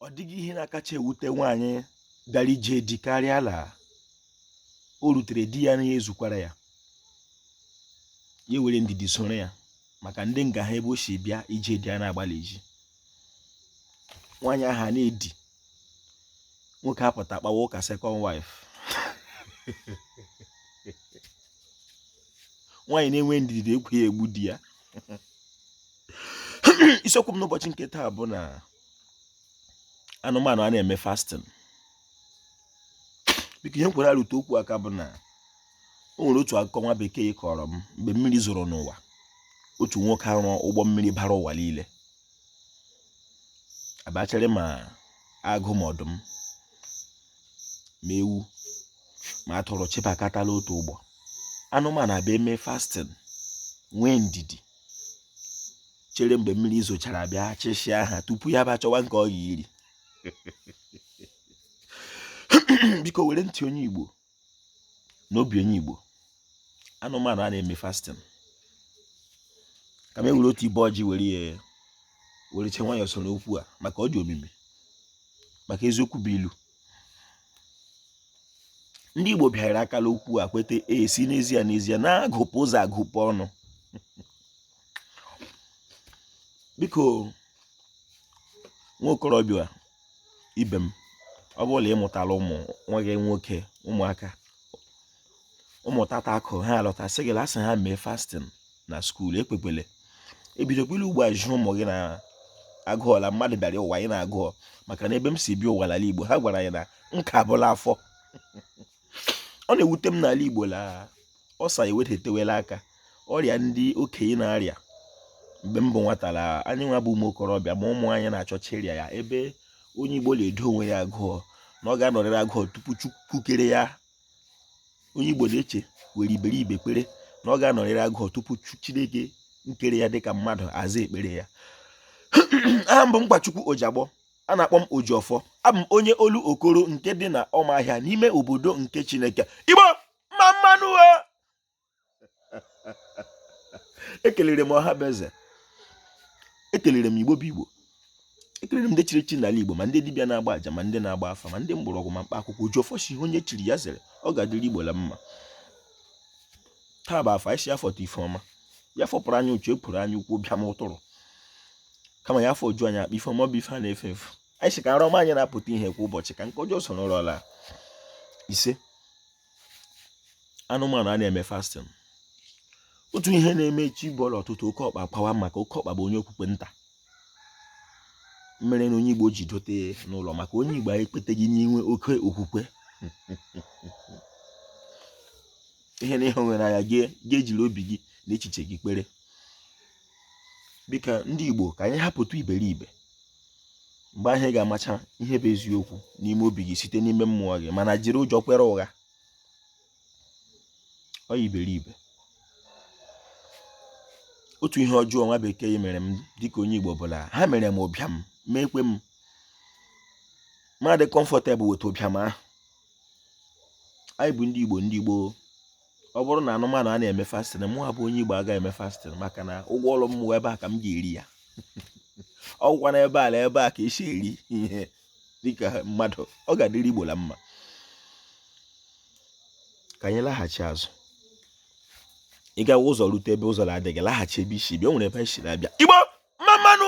ọ dịghị ihe na-akacha ewute nwaanyị gara ije di karịa la o rutere di ya na ya ezukwara ya ya were ndidi soro ya maka ndị nga ha ebe o si bịa ije di ya na-agbalị iji nwaanyị aha na-edi nwoke apụta kpawa ụka second wife nwaanyị na-enwe ndidi ekwu ya egbu di ya isiokwu m n'ụbọchị nke taa bụ na anụmanụ a na-eme fasting biko ihe m kwere arụtụ okwu aka bụ na o nwere otu akụkọ nwa bekee kọrọ m mgbe mmiri zoro n'ụwa otu nwoke arụọ ụgbọ mmiri bara ụwa niile abachara ma agụ ma ọdụm ma ewu ma atụrụ chịbakata la otu ụgbọ anụmanụ abịa mee fasting nwee ndidi chere mgbe mmiri zochara bịa chịsịa ha tupu ya bịa chọwa nke ọ ya-eri biko were ntị onye Igbo na obi onye Igbo anụmanụ a na-eme fasting ka m were otu ibe ọjị were ya were che nwayọọ soro okwu a maka ọ dị omimi maka eziokwu bụ ilu ndị Igbo bịara akala okwu a kweta sị n'ezie n'ezie na agụpụ ụzọ agụpụ ọnụ biko nwa okorobịa ibe m ọ bụrụ na ị mụtala ụmụ nwa gị nwoke ụmụaka ụmụ tata ahụ ha alọta sị gị la a sị ha mee fasting na skuul ekwekwele ebidokwele ugbu a zi ụmụ gị ịnọ agụọ la mmadụ bịara ụwa ịnọ agụọ maka na ebe m si bịa ụwa n'ala Igbo ha gwara anyị na nka bụ la afọ ọ na-ewute m n'ala Igbo la ulcer ewedetewela aka ọrịa ndị okenye na-arịa mgbe m bụ nwata la anyị nwa bụ ụmụ okorobịa ma ụmụ anyị na-achọcha ịrịa ya ebe onye Igbo na-edo onwe ya agụọ na ọ ga-anọrịrị agụọ tupu Chukwu kere ya onye Igbo na-eche were iberibe kwere na ọ ga-anọrịrị agụọ tupu Chineke nkere ya dịka mmadụ aza ekpere ya aha m bụ Mkpachukwu Ojagbọ a na-akpọ m Ojiọfọ abụ m onye Olokoro nke dị na Ọmahịa n'ime obodo nke Chineke Igbo mma mma nụ ekelere m ọha bụ eze ekelere m Igbo bụ Igbo ekelere m ndị chiri chi n'ala Igbo ma ndị dibịa na-agba aja ma ndị na-agba afa ma ndị mgbọrọgwụ ma mkpa akwụkwọ Ojiọfọ sị ihe onye chiri ya zere ọ ga-adịrị Igbo la mma taa bụ Afọ anyị sị Afọ ta ife ọma ya fọpụrụ anyị uche epụrụ anya ukwu bịa m ụtụrụ kama ya afọ oju anyị akpa ife ọma bụ ife a na-efe efu anyị si ka nrọ ọma anyị na-apụta ihe kwa ụbọchị ka nke ọjọọ so n'ụlọ ọla ise anụmanụ a na-eme fasting otu ihe na-eme chi bọọlụ ụtụtụ oke ọkpa kwawa maka oke ọkpa bụ onye okwukwe nta mere na onye igbo ji dote n'ụlọ maka onye igbo anyị ekweteghị n'inwe oke okwukwe ihe na ihe nwere anya ga-ejiri obi gị na echiche gị kpere biko ndị Igbo ka anyị hapụtụ iberibe mgbe ahụ ị ga-amacha ihe bụ eziokwu n'ime obi gị site n'ime mmụọ gị mana jiri ụjọ kwere ụgha ọ iberibe otu ihe ọjọọ nwa bekee mere m dịka onye Igbo bụ la ha mere m ụbịam meekwe m m adị comfortable with ụbịam ahụ anyị bụ ndị Igbo ndị Igbo ọ bụrụ na anụmanụ ana-eme fasting mụwa bụ onye igbo aga eme fasting maka na ụgwọ ọrụ mụwa ebe a ka m ga-eri ya ọgwụkwa na ebe ala ebe a ka e si eri ihe dịka mmadụ ọ ga-adịrị igbo la mma ka anyị laghachi azụ ị gawa ụzọ rute ebe ụzọ na-adịghị laghachi ebe i si bịa o nwere ebe anyị si na-abịa igbo mma mma nụ